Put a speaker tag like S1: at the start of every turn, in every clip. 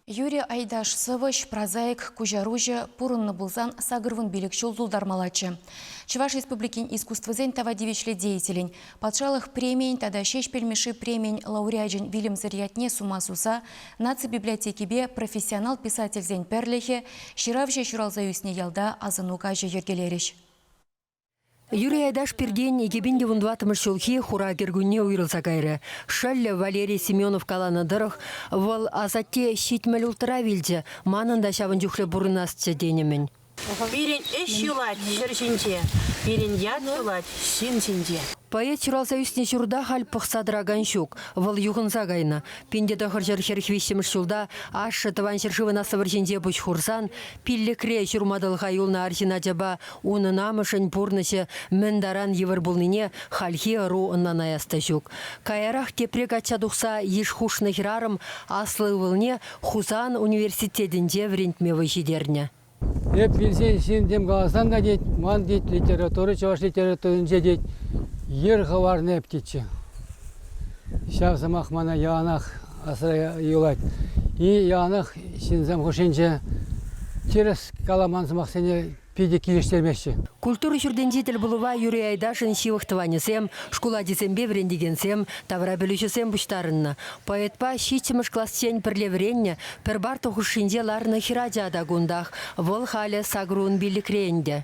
S1: Юрий Айдаш сӑвӑҫ, прозаик, куҫаруҫӑ пурӑннӑ пулсан сакӑрвун пилӗк ҫул тултармаллаччӗ. Чӑваш Республикин искусствӑсен тава тивӗҫлӗ деятелӗн, патшалӑх премийӗн тата Ҫеҫпӗл Мишши премийӗн лауреачӗн вилӗмсӗр ятне сума суса наци библиотекипе профессионал писательсен пӗрлӗхӗ, ҫыравҫӑ ҫуралса ӳснӗ ялта асӑну каҫӗ йӗркелерӗҫ.
S2: Юрий Айдаш пиртен икӗ пин те вун тӑваттӑмӗш ҫулхи хура кӗркунне уйрӑлса кайрӗ. Шӑллӗ Валерий Семенов каланӑ тӑрӑх, вӑл асатте ҫитмӗл улттӑра вилчӗ, манӑн та ҫавӑн чухлӗ пурӑнасчӗ тенӗ-мӗн. Пирӗн ӗҫ
S3: юлать ҫӗр ҫинче, пирӗн ят юлать ҫын ҫинче. Поэт ҫуралса
S2: ӳснӗ ҫурта халь пӑхса тӑракан ҫук, вӑл юхӑнса кайнӑ. Пин те тӑхӑрҫӗр хӗрх виҫҫӗмӗш ҫулта ашшӗ тӑван ҫӗршывӑн аслӑ вӑрҫинче пуҫ хурсан пиллӗкре ҫурма тӑлха юлнӑ арҫын ачапа Унӑн амӑшӗн пурнӑҫӗ мӗн таран йывӑр пулнине хальхи ӑру ӑнланаяс та ҫук. Каярах тепре качча тухса йыш хушнӑ хӗрарӑм аслӑ ывӑлне Хусан университетӗнче вӗрентме вӑй ҫитернӗ. Эп вилсен
S4: ҫынсем каласан та, тет, ман, тет, литература, чӑваш литературинче, тет, йӗр хӑварнӑ эп, тетчӗ. Ҫав сӑмах мана яланах асра юлать. И яланах ҫынсем хушшинче тӗрӗс каламан сӑмахсене питӗ килӗштермеҫҫӗ. Культура ҫуртӗнчи
S2: тӗлпулӑва юри Айдашӑн ҫывӑх тӑванӗсем, шкул ачисемпе вӗрентекенсем, тавра пӗлӳҫӗсем пуҫтарӑннӑ. Поэтпа ҫиччӗмӗш классен пӗрле вӗреннӗ пӗр парта хушшинче ларнӑ хӗрача та кунтах. Вӑл халӗ сакӑр ун пиллӗкре ӗнтӗ.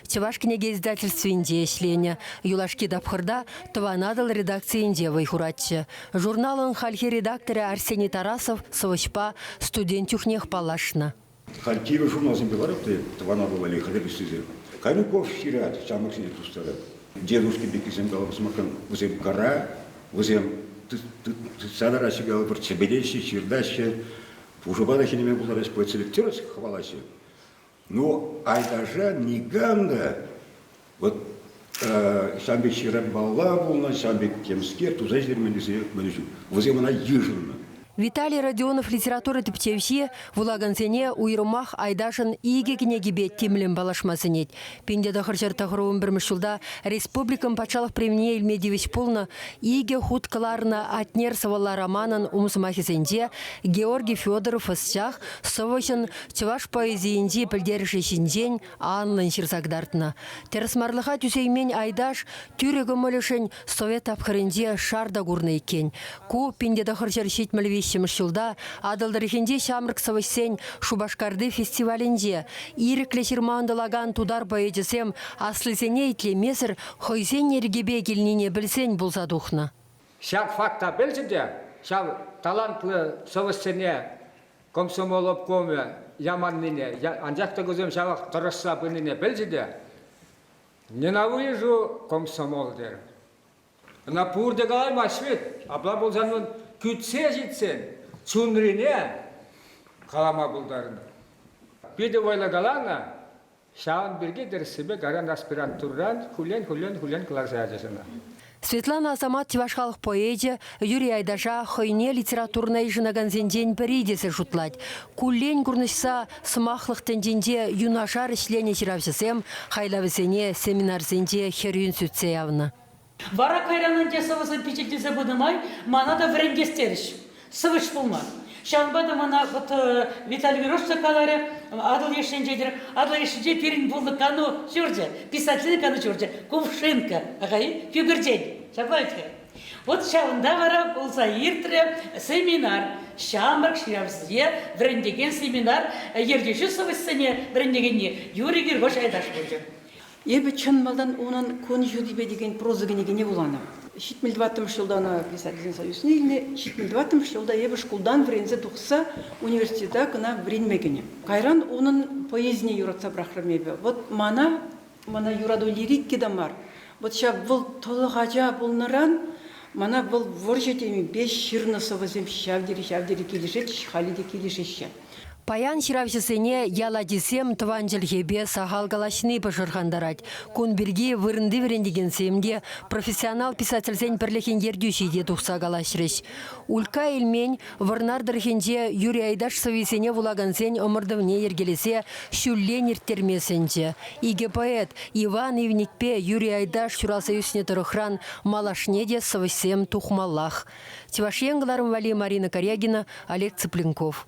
S2: Чӑваш кӗнеке издательствинче ӗҫленӗ. Юлашки тапхӑрта Тӑван Атӑл редакцийӗнче вӑй хуратчӗ. Журналӑн хальхи редакторӗ Арсений Тарасов сӑвӑҫпа студент чухнех паллашнӑ. Халь кивӗ
S5: журналсемпе ларать те Тӑван Атӑл валли хатӗрлессисем. Кайнуков ҫырать, ҫамрӑксене тустарать. Дедушка пеккисем каланӑ сӑмахран, вӗсем кара, вӗсем тытса тӑраҫҫӗ калӑпӑр, чӗпелеҫҫӗ, ҫыртаҫҫӗ, пушӑпа та хӗнеме пултараҫҫӗ, поэтселекция хӑвалаҫҫӗ. Ну, Айташа никам та вот ҫав пек ҫыранпалла пулнӑ, ҫав пек темскер туса ҫитермен тесе мӗн ҫук. Вӗсем ӑна йышӑннӑ. Виталий Родионов
S2: литература тӗпчевҫи вулакансене уйрӑмах Айташӑн икӗ кӗнекипе тимлӗн паллашма сӗнет. Пин-те тӑхӑрҫӗр тӑхӑрвун пӗрмӗш ҫулта республикӑн патшалӑх премнине илме тивӗҫ пулнӑ икӗ хут кӑларнӑ Атнер сӑвӑлла романӑн ум сӑмахӗсенче Георгий Федоров ӑсчах сӑвӑҫӑн Чӑваш поэзийӗнчи пӗлтерӗшӗ ҫинчен анлӑн ҫырса кӑтартнӑ. Тӗрӗсмарлӑха тӳсеймен Айдаш тӳрӗ кӑмӑлӗшӗн совет тапхӑрӗнче шар та курнӑ иккен. Ку пин те тӑхӑр ҫӗр ҫитмӗл виҫҫӗмӗш ҫулта Атӑл тӑрӑхӗнчи ҫамрӑк сӑвӑҫсен Шупашкарти фестивалӗнче ирӗклӗ ҫырма ӑнтӑлакан тутар поэчӗсем аслисене итлемесӗр хӑйсен йӗркипе килнине пӗлсен пулса тухнӑ. Ҫак факт
S6: та пӗлчӗ те ҫав талантлӑ сӑвӑҫсене Комсомол обкомӗ яманнине, анчах та кусем ҫавах тӑрӑшса пынине пӗлчӗ те, ненавижу комсомол тер. Ӑна пурте калаймасть вӗт. Апла пулсан вӑл кӳтсе ҫитсен чунрине калама пултарнӑ. Питӗ вӑйлӑ каланӑ, Ҫавӑн пирки тӗрӗссипе кайран аспирантурӑран хуллен-хуллен-хуллен кӑларса ячӗҫ ӑна. Светлана
S2: Асамат чӑваш халӑх поэчӗ Юрий Айдаша хӑйне литературӑна йышӑнакансенчен пӗри тесе шутлать. Куллен курнӑҫса сӑмахлӑх тӗнчинче юнашар ӗҫленӗ ҫыравҫӑсем хайлавӗсене семинарсенче хӗрӳн сӳтсе явнӑ. Вара кайран
S7: ӗнтӗ сӑвӑсем пичетлесе пынӑ май мана та вӗрентес терӗҫ. Сӑвӑҫ пулма. Ҫавӑнпа та мана вот Виталий Мирошца каларӗ, Атӑл йышшинче-тӗр. Атӑл йышшинче пирӗн пулнӑ кану ҫурчӗ, писательсен кану ҫурчӗ Кувшинка, аха-и, Кӳкӗртен. Ҫапла-и-ха? Вот ҫавӑнта вара пулса иртрӗ семинар. Ҫамрӑк ҫыравҫӑсене вӗрентекен семинар ертӳҫи сӑвӑҫсене вӗрентекенни Юрий Гиргош Айдаш пулчӗ. Эпӗ чӑн
S8: малтан унӑн Кун ҫутипе текен проза кӗнекине вуланӑ. Ҫитмӗл тӑваттӑмӗш ҫулта ӑна писательсен союзне илнӗ, ҫитмӗл тӑваттӑмӗш ҫулта эпӗ шкултан вӗренсе тухса университета кӑна вӗренме кӗнӗ. Кайран унӑн поэзине юратса пӑрахрӑм эпӗ. Вӑт мана, мана юрату лирики та мар, вӑт ҫав вӑл тӑлӑх ача пулнӑран мана вӑл вӑрҫӑ темипе ҫырнӑ сӑвӑсем ҫав тери, ҫав тери килӗшет, халӗ те килӗшеҫҫӗ. Паян
S2: ҫыравҫӑсене ял ачисем тӑван чӗлхепе сахал калаҫни пӑшӑрхантарать. Кун пирки вырӑнти вӗрентекенсем те, профессионал писательсен пӗрлӗхӗн ертӳҫи те тухса калаҫрӗҫ. Улька Эльмен Вӑрнар тӑрӑхӗнче Юрий Айдаш сӑввисене вулакансен ӑмӑртӑвне йӗркелесе ҫуллен ирттерме сӗнчӗ. Икӗ поэт Иван Ивникпе Юрий Айдаш ҫуралса ӳснӗ тӑрӑхран малашне те сӑвӑҫсем тухмаллах. Чӑваш Ен кӑларӑм валли Марина Корягина, Олег Цыпленков.